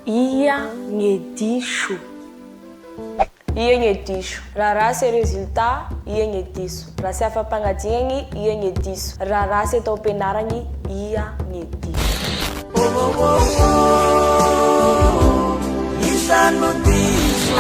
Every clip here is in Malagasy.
Ia gne diso. Ia gne diso. Raha ratsy e résultat, ia gne diso. Raha tsy afa-pagnadinagny, ia gne diso. Raha ratsy atao am-pianaragny, ia gne diso.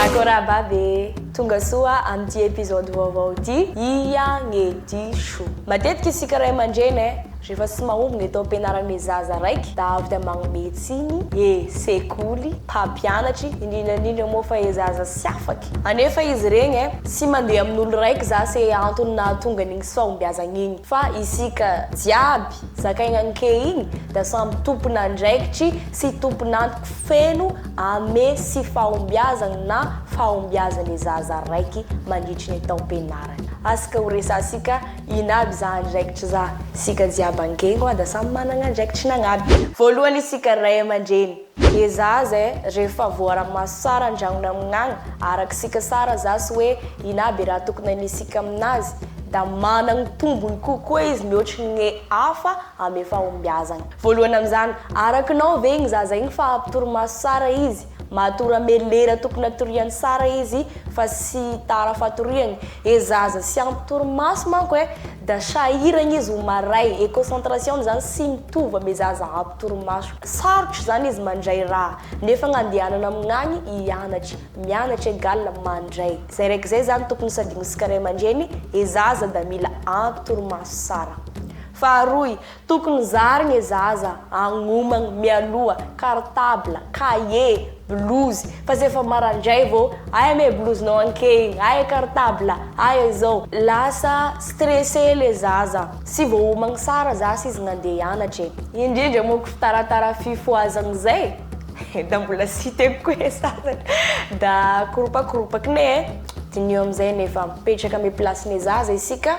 Akorababy e! Tonga soa amin'ity episode vaovao ity, ia gne diso. Matetiky isika ray aman-dreny e! Rehefa tsy mahomby ny atao am-pianaran'ny zaza raiky da avy da magnome tsiny e sekoly, mpampianatry, indrindra indrindra moa fa e zaza tsy afaky. Anefa izy iregny e, tsy mandeha amin'olo raiky za se antony nahatonga an'igny tsy fahombiazagny igny fa isika jiaby zakaigny anke igny da samy tompon'andraikitry sy tompon'antoko feno ame tsy fahombiazagny na fahombiazane zaza raiky mandritry ny taom-pianarany. Asika ho resansika Inn aby za andraikitry za. Isika jiaby angengo a da samy managna andraikitry nagnaby. Voalohany isika ray amandreny. Dia za aza eh rehefa voaramaso tsara andragno namignagna araka isika tsara za sy hoe inn aby raha tokony anisika aminazy da managny tombony kokoa izy mihoatry ny gne hafa amy efa hombiazagna. Voalohany amizany, arakinao ve igny zaza igny fa ampy torimaso tsara izy? Matora melera tokony hatoriany sara izy fa sy tara fatoriany e zaza sy ampy torimaso manko e da sahiragna izy ho maray e concentration ny zany sy mitovy ame zaza ampy torimaso sarotra zany izy mandray raha nefa ny andehanana amignagny hianatra mianatra egal mandray zay raiky zay zany tokony sadigno sika ray aman-dreny e zaza da mila ampy torimaso sara faharoy Tokony zary gne zaza agnomagny mialoha cartable, cahier, blouse fa zay fa marandray vao aia me blouse nao anke igny, aia cartable, aia izao. Lasa stressé le zaza. Tsy voahomagny tsara zasy izy nandeha hianatra e. Indrindra moa ko fitaratara fifohazagny zay da mbola siteny koa e sasany da koropakoropaky ne e. Diniho amizay nefa mipetraka ame place ne zaza isika.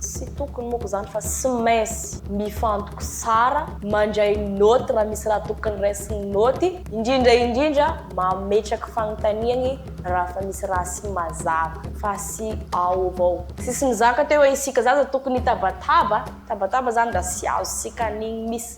Tsy tokony moko zany fa tsy maintsy mifantoky tsara, mandray note raha misy raha tokony raisin'ny note, indrindra indrindra mametraky fanontaniany raha efa misy raha tsy mazava fa tsy ao avao. Tsisy mizaka teo hoe isika zaza tokony hitabataba, tabataba zany raha tsy azontsika an'igny miss.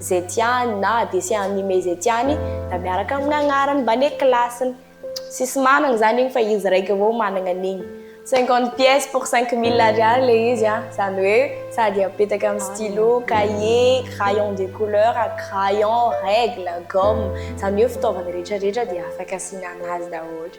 izay tiany na adc an'ny me izay tiany da miaraka amin'ny agnarany mbane kilasiny. Tsisy manana zany igny fa izy raiky avao managna an'igny. Cinquante pièces pour cinq mille ariary le izy an, zany hoe sady apetaka amin'ny stylo, cahier, crayon de couleur, crayon, règle, gomme, zany hoe fitaovana rehetra rehetra dia afaka asiana anazy daholo.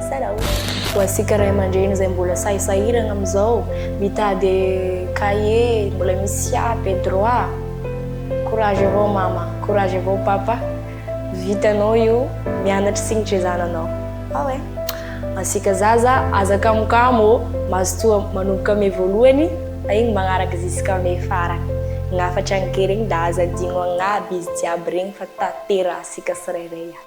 Tsara o! Ho antsika ray aman-dreny izay mbola sahy sahirana amin'izao mitady cahier, mbola misy siap et droit, courage avao mama, courage avao papa, vitanao io, mianatra signitry ny zananao. Ah ouais! Antsika zaza aza kamokamo ô! Mazotoa manomboka mai voalohany fa iny magnaraka jusqu'à mai farany. Ny hafatra ny kely iny da aza adino agnaby izy jiaby regny fa tanterahantsika tsirairay aby.